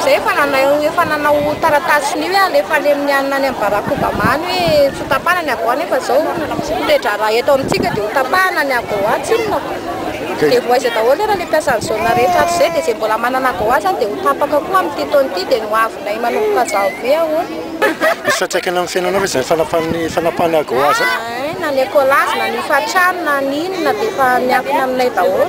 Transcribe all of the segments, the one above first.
Zay efa nanao efa nanao taratasy ny hoe alefa any amin'ny any amin'ny Barack Obama any hoe tsy tapahana ny AGOA nefa zao toe-draharaha eto amintsika dia ho tapahana ny AGOA tsy inona fa dia voaiza daholo ary le mpiasa ny zone rehetra hatrizay dia zay mbola manana AGOA zany dia ho tapaka koa amin'ity taona ity dia ny ho avinay manomboka janvier ahoana. Misy fiantraikany amin'ny fiainanao ve zany fanapahan'ny fanapahana AGOA zany? Hay na ny ecolage na ny hofantrano na ny inona dia efa miankina aminay daholo.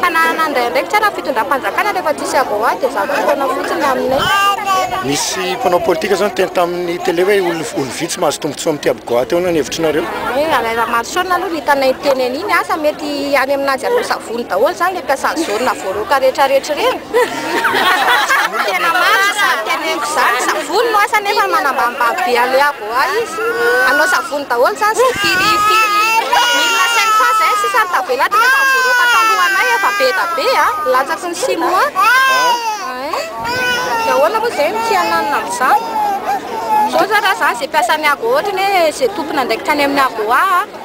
Fananana handray andraikitra ary amin'ny fitondram-panjakana rehefa tsisy avoahy dia zato taona fotsiny aminay. Nisy mpanao politika zao niteny tamin'ny tele hoe olo vitsy mahazo tombotsoa amin'ity abogoahy ity ahoana ny hevitr'nareo? Hoe anay Ramaroson aloha no hitanay niteny an'iny asa mety any aminanjy hanao savony daholo zany le mpiasan'ny zone voaroaka rehetra rehetra ireny? Tena marina izany teneniko izany, savony no asany nefa manambanimbany be anle. Oay izy hanao savony daholo zany sy firy firy milina cinq cent zay sisa ny tavela tonga efa mivoaroaka talohanay efa be da be a latsaky ny sinoa ein de ahoana moa zay no tsy hananina amizany zao zany raha za ze mpiasan'ny agoa ohatrany hoe ze tompony andraikitra any amin'ny agoa a.